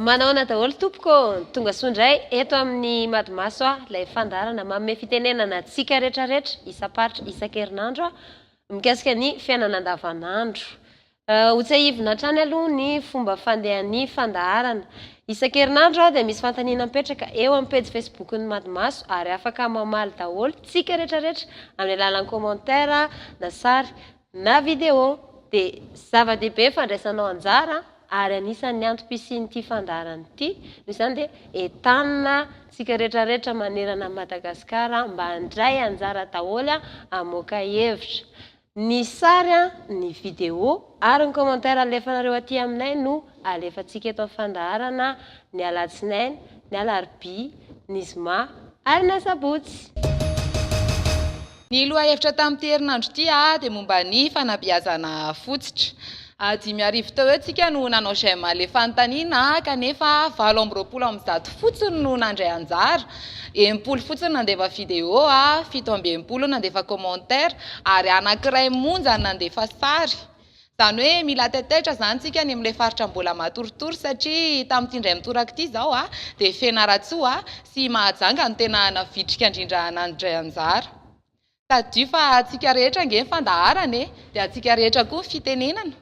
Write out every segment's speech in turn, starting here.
Manaona daholo tompoko ô! Tonga soa indray eto amin'ny Madimaso aho, ilay fandaharana manome fitenenana antsika rehetrarehetra isam-paritra isan-kerinandro mikasika ny fiainana andavanandro. Ho tsiahivina hatrany aloha ny fomba fandehan'ny fandaharana. Isan-kerinandro dia misy fanontaniana mipetraka eo amin'ny pejy Facebook-n'ny Madimaso ary afaka mamaly daholo tsika retraretra amin'ny alalan'ny commentaire na sary na video. Dia zava-dehibe fandraisanao anjara ary anisan'ny antom-pisian'ity fandaharana ity. Noho izany dia entanina tsika retraretra manerana an'i Madagasikara mba handray anjara daholo hamoaka hevitra. Ny sary, ny video ary ny commentaire alefanareo aty aminay no alefantsika eto amin'ny fandaharana ny alatsinainy, ny alarobia, ny zoma ary ny asabotsy. Ny lohahevitra tamin'ity herinandro ity dia momba ny fanabeazana fotsitra. Dimy arivo teo eo tsika no nanao j'aime alefan'ny tanina kanefa valo amby roapolo amby zato fotsiny no nandray anjara, enimpolo fotsiny nandefa video, fito amby enimpolo nandefa commentaire ary anankiray monja ny nandefa sary. Izany hoe mila taitaitra izany tsika ny amin'ilay faritra mbola matoritory satria tamin'ity indray mitoraka ity izao dia Fianarantsoa sy Mahajanga no tena navitrika indrindra nandray anjara. Tadidio fa antsika rehetra ange ny fandaharana e! Dia antsika rehetra koa ny fitenenana.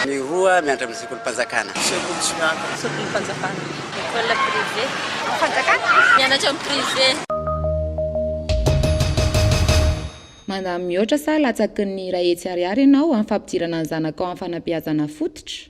Ny roa miandry amin'ny sekolim-panjakana. Sekolim-panjakana. École privée. Fanjakana. Mianatra amin'ny privé. Mandany mihoatra sa latsaky ny iray hetsy ariary ianao amin'ny fampidirana ny zanakao amin'ny fanabeazana fototra?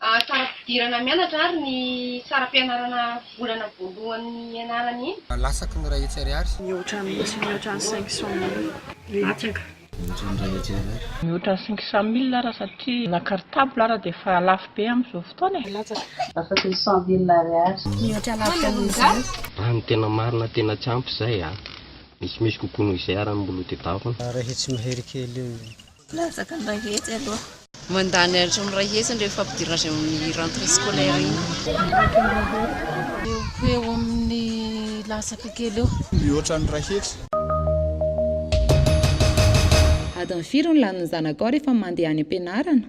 Saram-pidirana mianatra ary ny saram-pianarana volana voalohany ianarana iny. Lasaky ny iray hetsy ariary. Mihoatra mihitsy, mihoatra ny cinq cent mille. Latsaka. Mihoatra ny iray hetsy ariary. Mihoatra ny cinq cent mille ary satria la cartable ary dia efa lafo be amin'izao fotoana e. Latsaka. Lasaky ny cent mille ariary. Mihoatra lavitra noho izany. Raha ny tena marina tena tsy ampy izay a! Misimisy kokoa noho izay ary ny moloa dia davona. Iray hetsy mahery kely eo. Latsaka ny iray hetsy aloha. Mandany hatrany iray hetsy ny rehefa ampidirina azy amin'ny rentrée scolaire iny. Mihoatra ny iray hetsy. Eo ho eo amin'ny latsaka kely eo. Mihoatra ny iray hetsy. Adiny firy no lanin'ny zanakao rehefa mandeha any am-pianarana?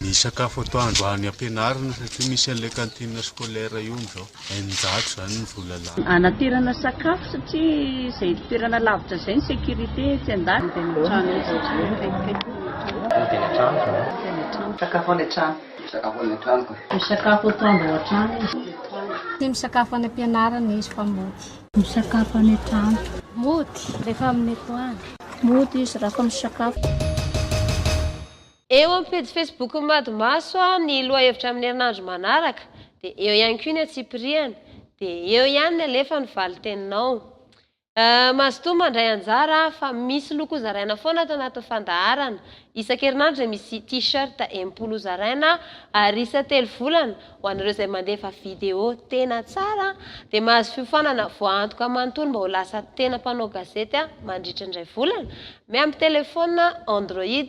Ny sakafo atoandro any am-pianarana satria misy an'ilay cantine scolaire io amin'izao. Eninjato izany ny vola lany. Hanaterana sakafo satria izay toerana lavitra izay ny sécurité etsy an-daniny. Ody any an-trano. Sakafo any an-trano. Misakafo any an-trano ka. Misakafo atoandro ao an-trano izy. Tia misakafo any am-pianarana izy fa mody. Misakafo any an-trano. Mody rehefa amin'ny atoandro. Mody izy rehefa misakafo. Eo amin'ny pejy Facebook-n'ny Madimaso ny lohahevitra amin'ny herinandro manaraka, dia eo ihany koa ny antsipirihany, dia eo ihany ny alefa ny valinteninao. Mazotoa mandray anjara fa misy loko hozaraina foana ato anatin'ny fandaharana. Isan-kerinandro dia misy T-shirt enimpolo hozaraina ary isan-telo volana ho anareo izay mandefa video tena tsara dia mahazo fiofanana voaantoka manontolo mba ho lasa tena mpanao gazety mandritra indray volana miampy telefaonina Android.